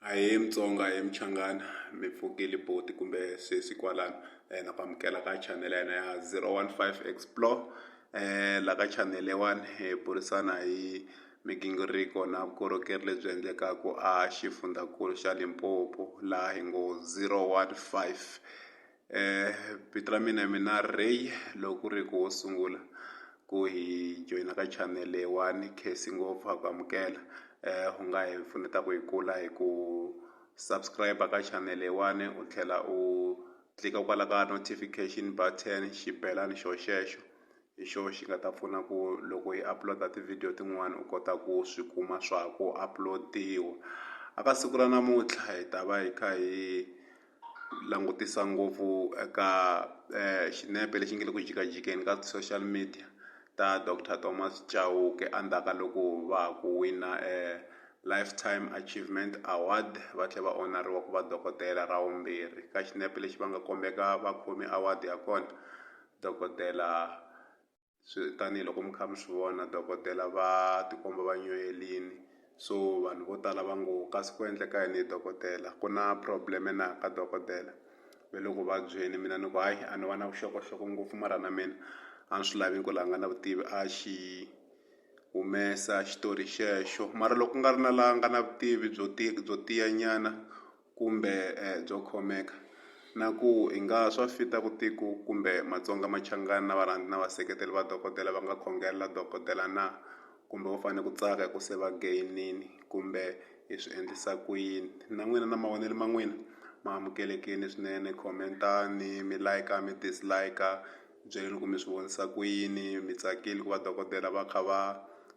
Ahee Mutsonga ahee Muchangana mi pfuke Liboti kumbe sesi kwalano na ku amukela ka channel ya hina ya zero one five explore la ka channel leyiwani hi burisana hi migingiriko na vukorhokeri lebyi endlekaku a xifundzankulu xa Limpopo laha hi ngo zero one five Eh, vito ra mina mina Ray loko ri ku wo sungula ku hi joyina ka channel leyiwani khesi ngopfu ha ku amukela eh u nga hi pfuneta ku hi kula hi ku subscribe ka channel leyiwani u tlhela u tlika kwala ka notification button xibelani xo xexo hi xona xi nga ta pfuna ku loko hi upload-a tivhidiyo tin'wani u kota ku swi kuma swa ha ku upload-iwa a ka siku ra namuntlha hi ta va hi kha hi langutisa ngopfu eka eh, xinepe lexi nge le ku jikajikeni ka social media ta dr thomas chauke endzhaku ka loko va ha ku wina eh, lifetime achievement award va tlhela va onariwa ku va dokodela ra vumbirhi ka xinepe lexi va nga kombeka vakhomi award ya kona dokodela swi tanihiloko mi kha mi swi vona dokodela va tikomba va nyuhelini so vanhu vo tala va ngo kasi ku endleka yini hi dokodela ku na problem na ka dokodela ve le ku vabyeni mina ni ku hayi a ni va na vuxokoxoko ngopfu mara na mina a ni swi lavi ku la nga na vutivi a xi humesa xitori xexo mara loko ku nga ri na la nga na vutivi byo byo tiyanyana kumbe byo khomeka, na ku hi nga swa fita ku tiko kumbe Matsonga Machangani na varhandzi na vaseketeri va dokodela va nga khongelela dokodela na? Kumbe vo fane ku tsaka hi ku se va geyinini kumbe hi swi endlisa ku yini? Na n'wina na mavonelo ma n'wina ma amukelekini swinene, comment-ani mi like-a mi dislike-a. byeli loko mi swi vonisa ku yini mi tsakile ku va dokodela va kha va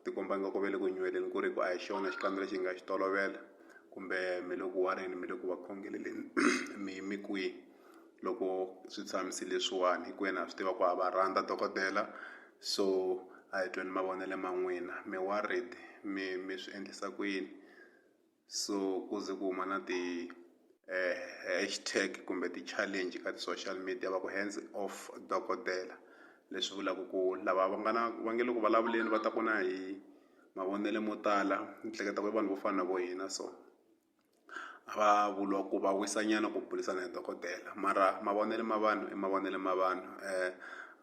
tikomba nga ku ve le ku nyuheleni ku ri ku a hi xona xikandza lexi hi nga xi tolovela kumbe mi le ku wareni mi le ku va khongeleleni mi yime kwihi loko swi tshamise leswiwani hinkwenu ha swi tiva ku ha va rhandza dokodela so a hi tweni mavonelo ma n'wina mi worried mi mi swi endlisa ku yini. so ku ze ku huma na ti eh, hashtag kumbe ti-challenge ka ti-social media va ku hands off dokodela leswi vulaka ku lava va nga na va nge le ku vulavuleni va ta ku na hi mavonelo mo tala ni hleketa ku i vanhu vo fana na vo hina so a va vuriwa ku va wisanyana ku burisana hi dokodela mara mavonelo ma vanhu i mavonelo ma vanhu um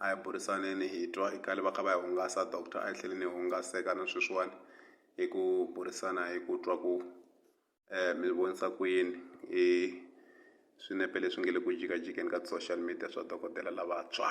a hi burisaneni hi twa i kale va kha va hi hungasa doctor a hi tlhele ni hungaseka na sweswiwani hi ku burisana hi ku twa ku um mi vonisa ku yini hi swinepe leswi nge le ku jikajikeni ka ti-social media swa dokodela lavantshwa.